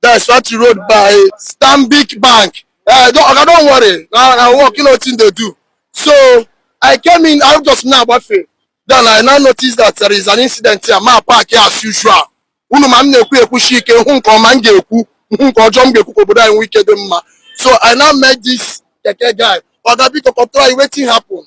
That's Factory Road by Stanbic Bank. Uh, don't, okay, don't worry. I, I work, you know, thing they do. So I came in, I just na-agbafe. Then I now noticed that there is an incident here. My park here as usual. Unu ma m na-ekwu ekwushi ike hụ nke ọma m ga-ekwu hụ nke ọjọọ m ga-ekwu ka obodo anyị nwee ike dị mma. So I now met this keke guy. Oga biko kọtụrụ anyị wetin happen.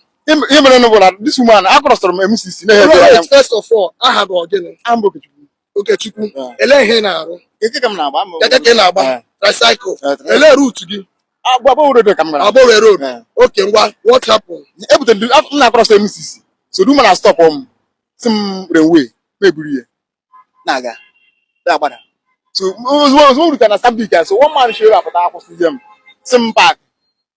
Ihe mere nụ bụ na this woman a crossọrọ m MCC na-ehe First of all, aha gị bụ gịnị? Aha m bụ Okechukwu. Okechukwu ele ihe ị na-arụ keke ka m na-agba ama keke ka ị na-agba tricycle ele route gị Aba Owerri road ka m na-aga Aba Owerri road okay ngwa what happen ebute m na-across MCC so the woman a stop m sị m railway m eburu ya na-aga agbada so ozugbo ozugbo rutere na Stanbic so one man showed up pụta akwụsịzie m sị m park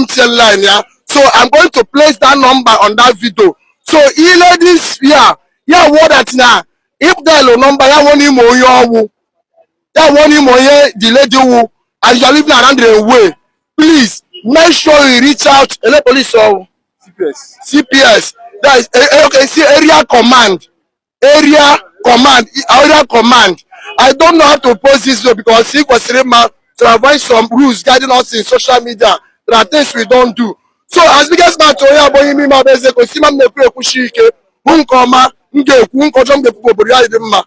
MTN line ya so I'm going to place that number on that video so i lee this ya ya wụọ that na ịpụtalụ nọmba ya wụọ na ị ma onye ọ wụ ya wụọ na ị ma onye the lady wụ and you are living around railway please make sure you reach out ele police ọ wụ CPS. CPS that is eh, eh, okay see area command area command area command i don't know how to post this video because ị kwesịrị ịma to avoid some rules guiding us in social media there are things we don't do so as biggest man to onye abụghị ime ime abụ eze gosi ma m na-ekwu ekwushi ike hụ nke ọma m ga-ekwu nke ọjọọ m ga-ekwu obodo anyị dị mma